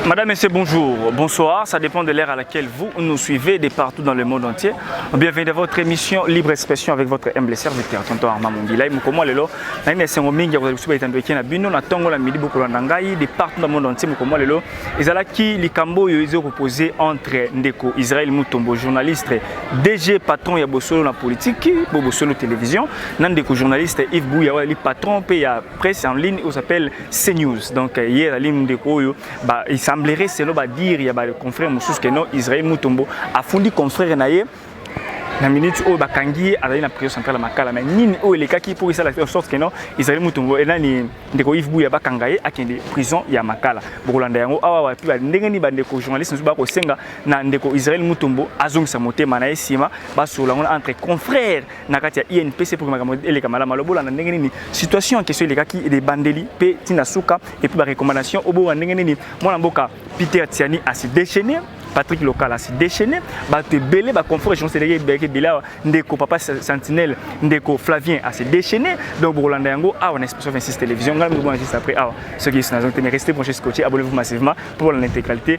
Madame, Monsieur, bonjour, bonsoir, ça dépend de l'heure à laquelle vous nous suivez de partout dans le monde entier. Bienvenue dans votre émission Libre Expression avec votre humble serviteur, Tonton Armand Mongila. Mukomo lelo, na ina sengo mingi ko kusuba itando ekena bino na tongo la midi bokolo na ngai de partout dans le monde entier mukomo lelo. Ezala ki likambo yo izo proposer entre ndeko Israël Mutombo journaliste DG patron ya bosolo na politique, bo bosolo télévision, na ndeko journaliste Yves Bouya wali patron pe ya presse en ligne oyo s'appelle CNews. Donc euh, hier ali ndeko oyo ba il semblerait selon ba dire ya ba confrère mosusu que non Israël Mutombo afundi confrère na ye na minute oyo bakangi ye azali na prison centrale ya makala mais nini oyo elekaki mpo esala en sorte que non ezali mutombo enani ndeko yves buya bakanga ye akende prison ya makala bokolanda yango awa wapi ndenge nini bandeko journaliste mosusu bakosenga na ndeko israel mutombo azongisa motema na ye nsima basolola yango entre confrère na kati ya INPC pour makambo eleka malama lobola na ndenge nini situation en question elekaki ebandeli mpe ntina suka epuis barecommandation obowa ndenge nini mwana mboka Peter Tiani asi déchaîné Patrick Lokala asi déchaîné bato ebele baconfort échange eleki ebeleki ebele awa ndeko papa sentinelle ndeko Flavien asi déchaîné donc bokolanda yango awa na expression 26 télévision ngai mibona juste après awa soki yesu nazongi te mais restez branché scotché abonnez-vous massivement pour la intégralité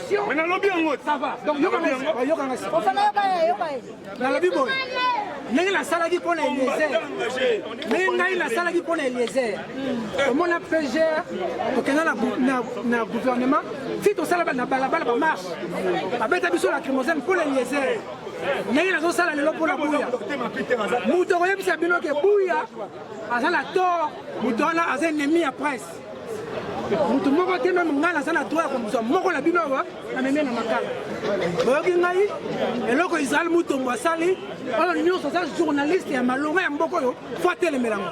Mais nalobi yango. Ça va. Donc yoka nga sipa, yoka nga sipa. Ofana yoka ye, yoka ye. Nalobi boye. Ndenge nasalaki mpo na Eliezer. Ndenge ngai nasalaki mpo na Eliezer. Omona PGR okenda na na na gouvernement, si tosala na balabala ba marche. Babeta biso la lacrymogène mpo na Eliezer. ndenge nazosala lelo mpo na buya moto akoyebisa bino ke buya aza na tort moto wana aza ennemi ya presse motu moko te meme ngai naza na droit ya kozwa moko na bino awa ameme na makala boyoki ngai eloko israel mutombo asali oyo nyonso aza journaliste ya malonga ya mboka oyo fo atelemelango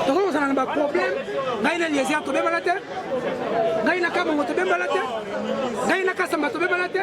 tokoki kozala na baproblème ngai na eliezer tobebana te ngai na kamongo tobebana te ngai na kasamba tobebana te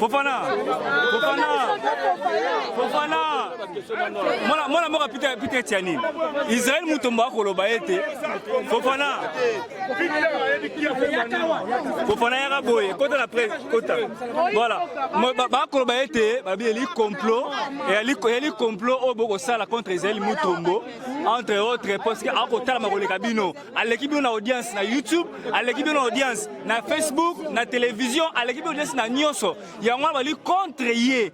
Fofana Fofana Fofana mwana mwana moko Peter Peter Tiani Israël Mutombo akoloba ete Fofana Fofana yaka boye kota na presse kota voilà bakoloba ete babi eli complot eli complot oyo bokosala contre Israël Mutombo entre autres parce que akotalama koleka bino aleki bino na audience na youtube aleki bino na audience na facebook na television aleki bino audience na nyonso yango wana bali contre ye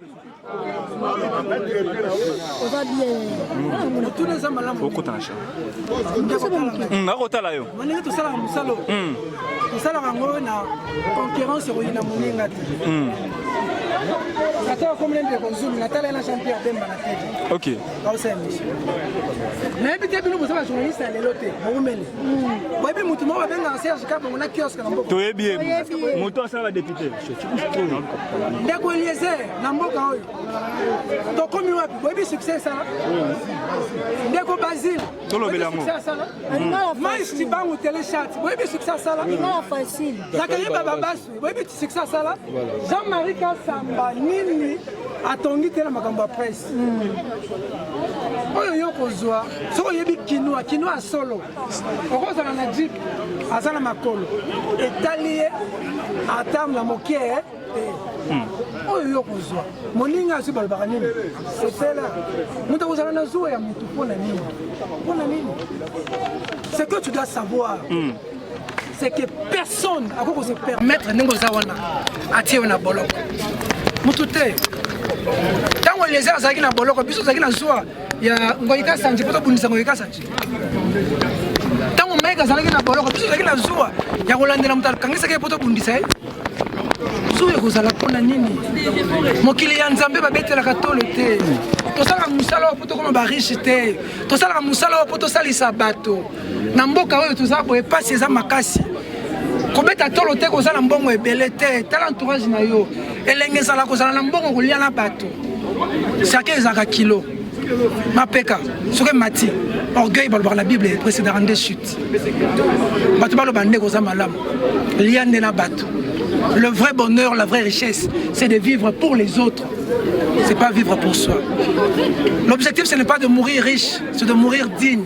nakotala yo ndenge tosalaka mosala hmm. tosalaka yango na concurrence ekoyi na moninga te hmm. ata akomina ndeko zulu natala ye na jean pierre bemba na tete baosa emission nayebi te bino boza bajournaliste ya lelo te boumeli boyebi motu moko babengaka serge kabongo na kioske na mboka toyebi ye moto asala badepute ndeko eliezer na mboka oyo tokomi wapi boyebi succès esala ndeko basile tolobela yango mais cibangu telechat boyebi succès asala zakayeba babasi boyebi eti succès asala jean marie kasamba nini atongi te na makambo ya presse hmm. oyo yo kozwa soki oyebi kinwa kinwa ya solo okozala na jip aza na makolo etali ye ata na moke eh. hmm. oyo yo kozwa moninga azwi balobaka nini sepela moto akozala na zuwa ya motu mpo na nini mpo na nini ce que tu dois savoir mm. c'est que personne akoki ko se permettre ndenge oza wana atie yo na boloko mutu te ntango eliezer azalaki na boloko biso ozalaki na zuwa ya ngoyika sanji mpo tobundisa ngoyika sanji ntango mike azalaki na boloko biso ozalaki na zuwa ya kolandela moto akangisaki ye mpo tobundisa ye zuwa ekozala mpo na nini mokili ya nzambe babetelaka tolo te tosalaka mosala oyo mpo tokoma bariche te tosalaka mosala oyo mpo tosalisa bato na mboka oyo toza boye pasi eza makasi kobeta tolo te kozala mbongo ebele te tala entourage na yo elenge ezala kozala na mbongo kolia na bato sake ezalaka kilo mapeka soki emati orgueil balobaka na bible eprecedaka nde chute bato baloba nde koza malamu lia nde na bato le vrai bonheur la vraie richesse c'est de vivre pour les autres c'est pas vivre pour soi l'objectif ce n'est pas de mourir riche c'est de mourir digne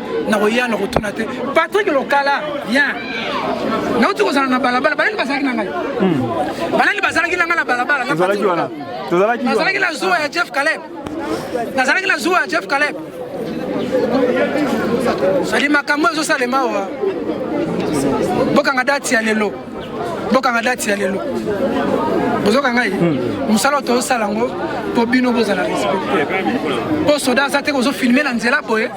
nakoya na kotuna te patrik lokala bien nauti kozala na balabala banani bazalaki na ngai hmm. banani bazalaki na ngai na balabala nazalaki na zuwa ya jeff caleb nazalaki na zuwa ya jeff caleb sali makambo ezosalema awa bokanga dati ya lelo bokanga dati ya lelo bozoka ngai hmm. mosala oyo tozosala yango mpo bino bozala respecte mpo soda aza te kozofilme na nzela boye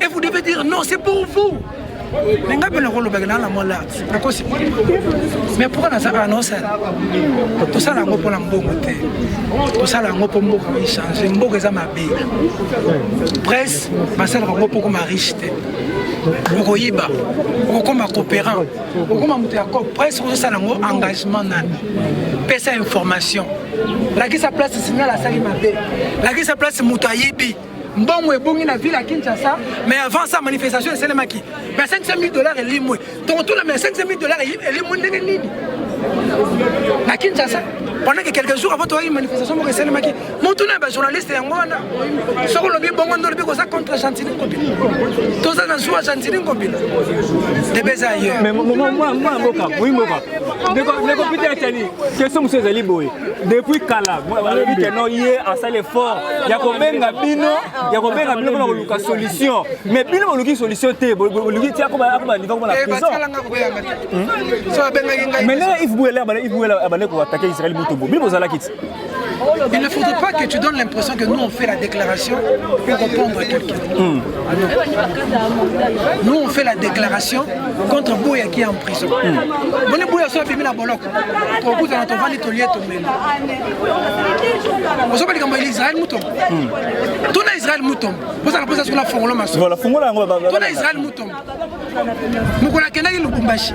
Et vous devez dire non, c'est pour vous. Mais nga pele ko lobaka na la mola. Nakosi. Mais pourquoi na saka non ça? To sala ngo pona mbongo te. To sala ngo po mboka ko changer. Mboka eza mabe. Presse, ba sala ngo poko ma riche te. okoyiba okokoma coopérant okokoma moto ya cop presse ozosala yango engagement nani pesa information lakisa place signal asali mabe lakisa place moto ayibi mbongo ebongi na ville ya kinshasa mais avant ça manifestation esalemaki mais 500 000 dollars elimwe tokotuna mais 500 000 dollars elimwe ndenge nini na kinshasa pendant que quelques jours avant toyaki manifestation moko esalemaki motuna ya bajournaliste yango wana soki olobi bongo nde olobi koza contre gentini ngobila toza na zuwa gentini ngobila debe eza ayeurmboka ndeko peter atani question mosusu ezali boye depuis kala balobi ke no ye asali effort ya kobenga bino ya kobenga bino mpona koluka solution mais bino boluki solution te boluki ti akobandika kobana prisonmainee ive buela abande koatake israel mutombo bino bozalaki ti Il ne faudrait pas que tu donnes l'impression que nous on fait la déclaration pour répondre à quelqu'un. Mmh. Nous on fait la déclaration contre Boya qui est en prison. Mmh. Boya soit la boloc. tokutana tovandi tolie tomela ozoba likambo ya israel mutombo hmm. tuna israel mutombo ozala mposa soki nafongola masotuna israel mutombo mokolo akendaki lubumbashi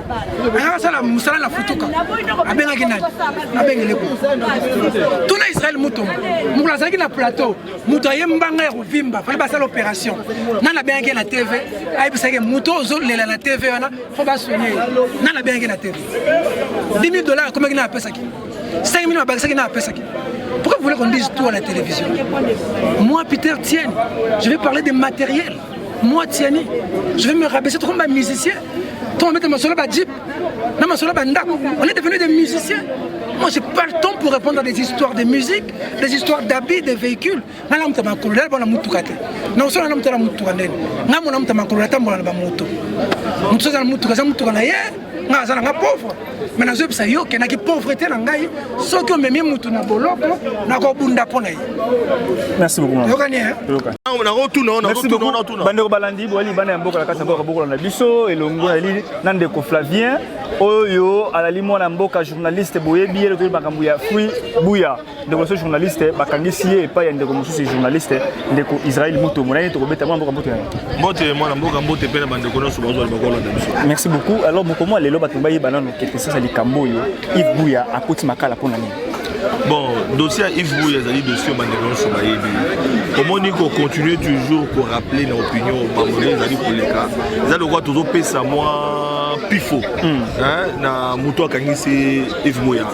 ayaka asala mosala na futuka abengaki nani abengele ko tuna israel mutombo mokolo azalaki na plateau moto aye mbanga ya kovimba fali basala opération nani abengaki na tv ayebisaki moto ozolela na tv wana fo basone nani abengaki na tv 2000 dollars akomaki na apesaki 5000 babakisaki na apesaki pourquoi vous voulez qu'on dise tout à la télévision moi peter tienne je vais parler des matériels moi tiani je vais me rabaisser comme un musicien to omete masolo ba jeep na masolo ba ndako on est devenu des musiciens moi j'ai pas le temps pour répondre à des histoires de musique des histoires d'habits des véhicules nga namuta makolo naleba na motuka te naosala namuta na motuka ndeni nga mona muta makolo natambola na bamoto moto aza na motuka aza motuka na ye nga aza na nga pauvre mai nazoyebisa yo okendaki pauvrete na ngai soki omemi motu na boloko nakobunda mpo na ye yokani bandeko balandi boyali bana ya mboka na kati ya mboka bokola na biso elongo nali na ndeko flavien oyo alali mwana mboka journaliste boyebi ye lotoyi makambo ya fruit buya ndeko so journaliste bakangisi ye epai ya ndeko mosusu journaliste ndeko israel moto mona ye tokobeta mwana mboka mboto yango mbote mwana mboka mbote mpe na bandeko nyonso bazwa bakolanda biso merci beaucoup alors mokomo ya lelo bato bayeba nano kete sasa likambo oyo ive buya akoti makala mpo na nini bon dossier ya ive buya ezali dossier bandeko nyonso bayebi omoni kocontinue toujours korappele na opinion bamone ezali koleka eza lokola tozopesa mwa pifo hmm. na moto akangisi ive buya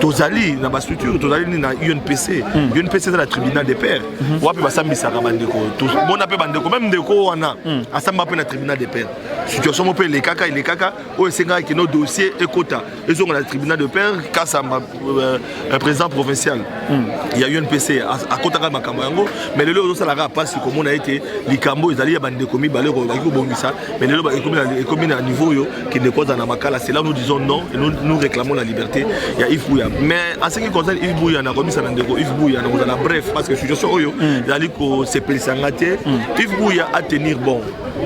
tozali na bastructure tozali nini na unpc mm. unpc eza na tribunal de paire mm -hmm. wapi basambisaka bandeko tomona mpe bandeko meme ndeko wana mm. asamba mpe na tribunal de paire situation moko mpe elekaka elekaka oyo esengaka kino dossier ekota ezonga na tribunal de paire kasamba euh, euh, président provincial mm. ya unpc akotaka makambo yango mais lelo ozosalaka mpasi komona ete likambo ezali ya bandeko mibale oyo baki kobongisa Mais lelo ekomi na niveau oyo kende kozala na makala c'est là nous disons non et nous, nous réclamons la liberté ya Yves Bouya mais en ce qui concerne Yves Bouya nakomisa na ndeko Yves Bouya nakozala bref parce que situation oyo mm. ezali kosepelisa nga te mm. Yves Bouya a tenir bon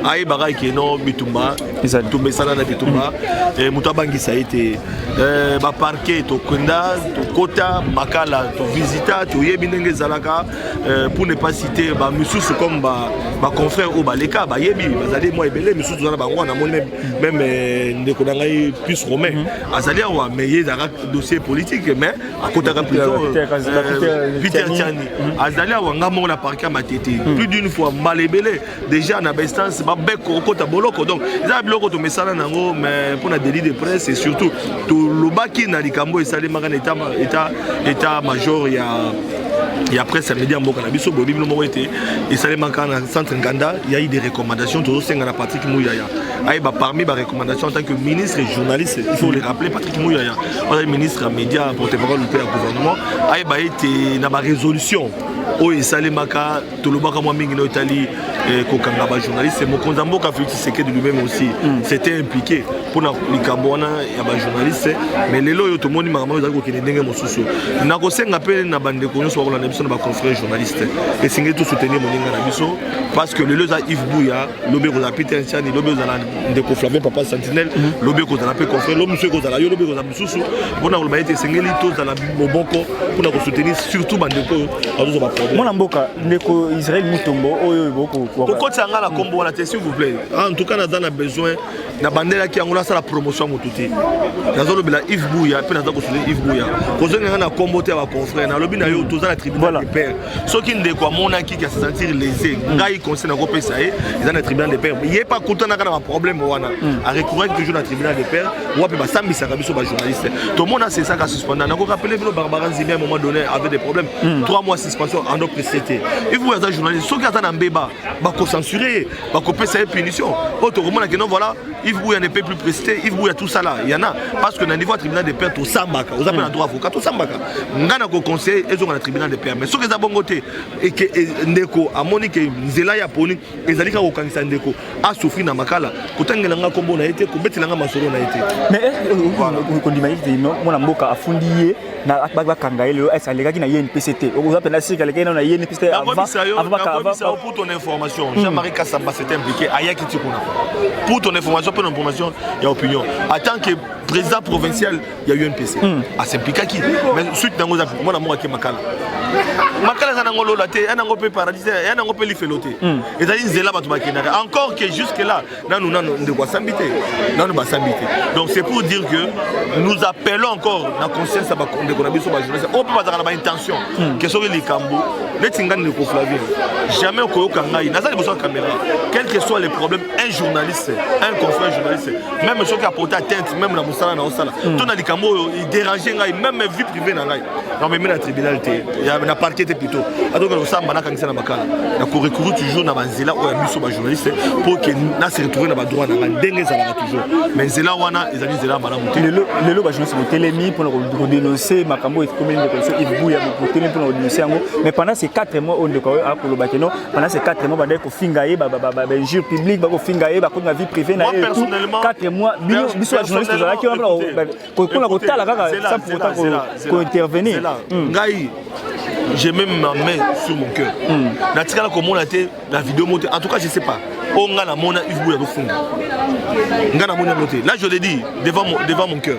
ayebaka eke non bitumba bitumba esala na bitumba mm. eh, moto abangisa ye te eh, baparke tokenda tokota makala tovisita toyebi ndenge ezalaka Euh, pour ne pas citer ba misusu comme ba ba confrères au baleka ba yebi bazali moi ebele misusu zana bango na moni même même euh, ndeko na ngai plus romain mhm. azali awa mais ye ezalaka dossier politique mais akotaka plutôt euh, peter tiani mhm. azali awa ngai moko na parke ya matete mhm. plus d'une fois mbala ebele déjà na bainstance babeko okota boloko donc eza na biloko tomesana na yango mais mpo na délit de presse et surtout tolobaki na likambo esalemaka na état major ya ya presse ya media mboka na biso boyebi bino moko ete esalemaka na centre nganda yai des recommandations tozosenga na patrick muyaya ayeba parmi barecommandation en tant que ministre et journaliste il faut le rappeler patrick muyaya ozali ministre ya média porte-parole mpe ya gouvernement ayeba ete na barésolution oyo esalemaka tolobaka mwa mingi nayo etali eh, kokanga bajournaliste mokonzi ya mboka felix tshisekedi lui-même aussi mm. c'était impliqué mpo na likambo wana ya bajournaliste mais lelo oyo tomoni makambo oyo ezali kokende ndenge mosusu nakosenga mpe na bandeko nyonso bakolanda biso na baconfrère journaliste esengeli tosoutenir moninga na biso parce que lelo eza ive buya lobi ekozala peter ntiani lobi ekozala ndeko flavien papa sentinelle mm. lobi ekozala mpe confrère lo mosusu ekozala yo lobi ekozala mosusu mpona koloba ete esengeli tozala moboko mpona kosoutenir surtout bandeko oyo bazozwa baproblème mwana mboka ndeko israel mutombo oyo kokotisa ngai na nkombo wana te s'il vous plaît ah, en tout cas naza na besoin nabandelaki yango nasala promotion ya motu te nazolobela ive buya mpe naza kosoutenir ive buya kozongi ngai na nkombo te ya baconfrère nalobi na yo toza na tribunal de père soki ndeko amonaki ke asesentir lese mm. ngai conseil nakopesa ye eza na tribunal de père ye mpe akutanaka na baproblème wana mm. arecouraki toujours na tribunal de père wapi basambisaka biso bajournaliste tomona sesaka suspenda nako rappele bino barbara nzimbi à un moment donné avait des problèmes mm. trois mois suspension en notre société il faut aza journaliste soki aza na mbeba bakocensuré ye bakopesa ye punition oyo tokomona keno voilà Yves Bouya ne peut plus prester, Yves Bouya tout ça là, il y en a. Parce que dans le niveau tribunal de paix, tout ça, vous avez un droit avocat, tout ça, vous avez un conseil, ils ont un tribunal de paix. Mais ce que vous avez un et que Ndeko, à Monique, Zela, Yaponique, ezali kaka kokangisa ndeko asouffrir na makala kotangela nga nkombo na ye te kobetela nga masolo na ye te mais eh, eh, eh, kondima ete mwana mboka afundi ye bakanga ye lelo ese alekaki na ye npc te oza mpenza sika alekaki nano na ye npc te pour ton information hmm. jean-marie kasamba s'est impliqué ayaki ti kuna pour ton information mpe na information ya opinion en tant que président provincial ya UNPC hmm. asimplikaki mais suite nango eza mwana moko ake makala makala eza nango lola te ya nango mpe paradis te ya nango mpe lifelo te hmm. ezali nzela bato bakendaka encore que jusque là nanu nanu ndeko asambi te nanu basambi te donc c'est pour dire que nous appelons encore na conscience ya bandeko na biso bajournaliste oyo mpe bazalaka na baintention hmm. ke soki likambo neti ngai ndeko flavien jamais okoyoka ngai naza liboso ya caméra quel que soit les problèmes un journaliste un confrère journaliste meme soki apota atteinte meme na mosala na osala hmm. to na likambo oyo iderange ngai meme vie privé na ngai namemi na tribunal te na parquet te plutôt atonga kosamba nakangisa na makala na korecourir toujours na banzela oyo ya biso bajournaliste mpo ke na se retrouve na badroit na ngai ndenge ezalaka toujours mais nzela wana ezali nzela ya malamu te lelo bajournaliste botelemi mpona kodenonse makambo oyo ekomeli ndeko biso ibuya botelemi mpona kodenonse yango mais pendant ces 4 mois oyo ndeko oyo akoloba keno pendant ces 4 mois bandaki finga ye ba ba ba ba injure publique ba ko finga ye ba ko na vie privée na ye 4 mois bino biso ba journaliste za ki wala ko ko na ko tala kaka ça pour autant ko ko intervenir hmm. ngai j'ai même ma main sur mon cœur hmm. na tikala ko mona te la vidéo monte en tout cas je sais pas o nga na mona Yves Bouya ko funga nga na mona mote là je le dis devant mon devant mon cœur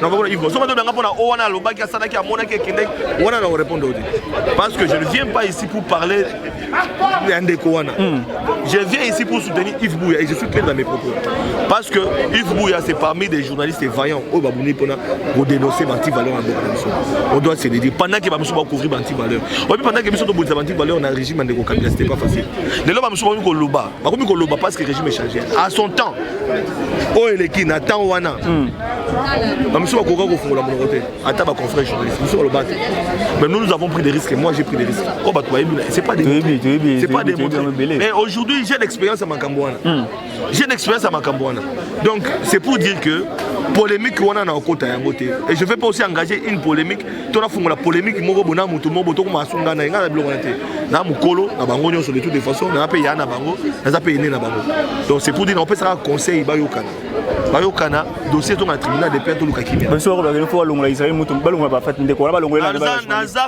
nakoki ivre soki tobanga mpona o wana alobaki asalaki amonaki ekendeki wana na korepondre te parce que je ne viens pas ici pour parler ya ndeko wana hmm. je viens ici pour soutenir ive bouya et je suis clair dans mes propos parce que ive bouya c'est parmi des journalistes vaillants oyo babuni mpona kodenoncer bantivaleur ya mboka na biso on doit se le dire pendant ke bamosusu bacouvrir bantivaleur oyebi pendant ke biso tobundisa bantivaleur na régime ya ndeko kabila c'était pas facile lelo bamosusu bakomi koloba bakomi koloba parce que régime échangé à son temps oyo eleki na temps wana hmm. bamisu bakoka kofungola monoko te ata baconfrère journaliste misu baloba te mais nous nous avons pris des risques moi j'ai pris des risques oyo oh, bato bayebi c'est pas c'est pas démontré mais aujourd'hui j'ai l'expérience ya makambo wana hmm. j'ai l'expérience ya makambo wana donc c'est pour dire que polémique wana na okota yango te et je vais pas aussi engager une polémique to nafungola polémique moko bona moto moko tokoma asunga na ye ngai na biloko wana te na mokolo na bango nyonso de toute de façon naza mpe ya na bango naza mpe ene na bango donc c'est pour dire naopesaka conseil bayokana bayokana dossier ezonga na tribunal de paix toluka kimianaza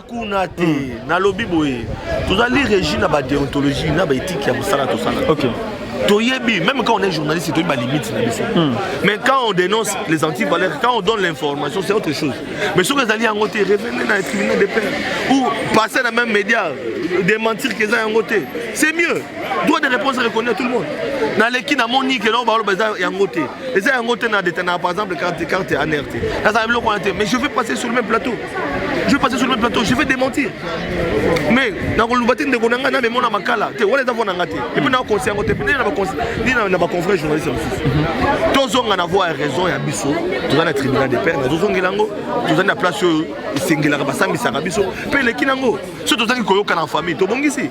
kuna te hmm. nalobi boye tozali régi na badeontologie na baéthique ya mosala tosala toyebi même quand on est journaliste toyebi balimite na biso hmm. mais quand on dénonce les antivaleurs quand on donne l'information c'est autre chose mais soki ezali yango te revenez na tribunal de paix ou passer na même média démentir que eza yango te c'est mieux droit de réponse reconnu à tout le monde naleki namoni ke nao baloba eza yango te eza yango te na detanaka par exemple carte carte aner te nazala biloko wana te mais je vais passer sur le même plateau je vais passer sur le même plateau je vais démentir mais nakoloba te ndeko na ngai na memona makala te wana eza vo na ngai te epuis na conseil yango te epuis nini na baconfrère journaliste mosusu tozonga na voi ya raison ya biso toza na tribunal de paix nazozongela yango tozali na place oyo esengelaka basambisaka biso mpe eleki na yango soki tozangi koyokana na famille tobongisi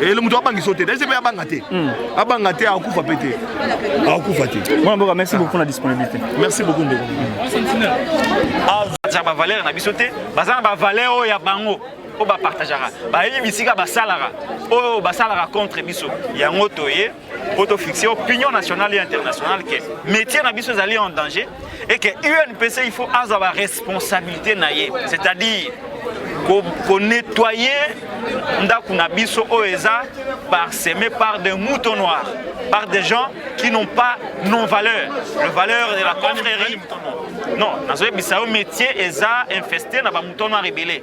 ele eh, moto abangisa yo te daise mpe abanga te hmm. abanga te akokufa mpe te akokufa te mwana mboka merci beaucoup na disponibilité merci beaucoup ndeko aza bavaleur na biso te baza na bavaleur oyo ya bango oyo bapartageaka bayebi bisika basalaka oyo basalaka contre biso yango toye mpo tofixe opinion nationale et internationale ke métier na biso ezali en danger et ke unpc il faut azwa baresponsabilité na ye c'est-à-dire konettoye ko ndako na biso oyo eza parseme par des moutons noirs par des gens qui n'ont pas non valeur le valeur de la confrérie non nazoyebisa yo métier eza infesté na bamouton noir ebele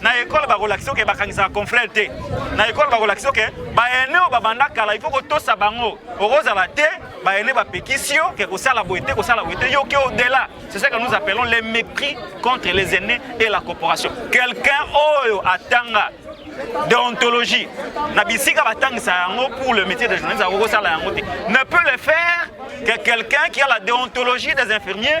na ekole bakolakisa oke bakangisaka confrere te na ekole bakolakisa oke baene oyo babanda kala ifo kotosa bango okozala te baene bapekisi yo ke kosala boye te kosala boye te yoki odela c'est ce que nous appelons les mépris contre les aînés et la corporation quelqu'un oyo atanga déontologie na bisika batangisa yango pour le métier de journaliste akokosala yango te ne peut le faire que quelqu'un qui a la déontologie des infirmiers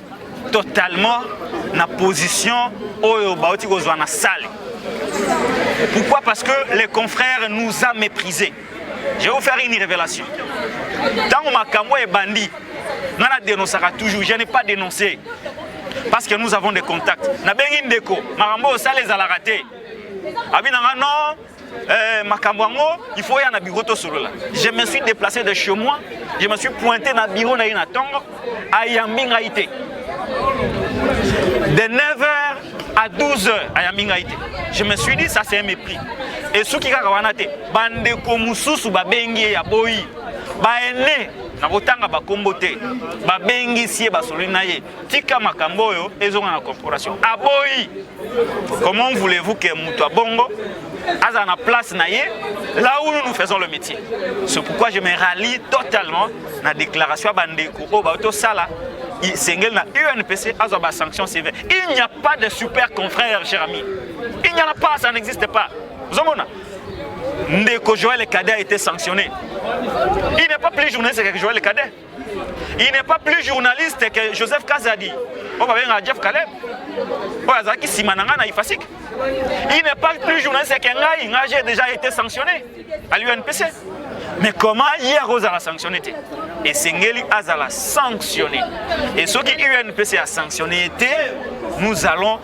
totalement na position oyo bauti kozwa na salle pourquoi parce que les confrères nous a méprisé je vais vous faire une révélation ntango makambo ebandi nga na dénoncaka toujours je n'ai pas dénoncé parce que nous avons des contacts nabengi ndeko makambo osala ezalaka te abi nanga non Euh, makambo yango il faut ya na bureau tosolola je me suis déplacé de chez moi je me suis pointé na bureau na ye na ntongo ayambi ngai te de 9h à 12h ayambi ngai te je me suis dit ça c'est un mépris esuki kaka wana te bandeko mosusu babengi ye ya boyi baene nakotanga bakombo te babengisi ye basololi na ye tika makambo oyo ezonga na corporation aboyi comment voulez-vous que moto abongo azala na place na ye là où nous nous faisons le métier c'est pourquoi je me rallie totalement na déclaration ya bandeko oyo bayo tosala esengeli na unpc azwa basanction sévère il n'y a pas de super confrère cher ami il n'y en a pas ça n'existe pas ozomona ndeko joël cadet a été sanctionné il n'est pas plus journaliste que joël cadet il n'est pas plus journaliste que joseph kazadi oyo babengaka jeff caleb oyo azalaki nsima na ngai na ifasik il n'est pas plus journaliste que ngai ngai j'ai déjà été sanctionné à l'unpc mais comment ye akozala sanctionné te esengeli azala sanctionné et soki unpc asanctionné ye te nous allons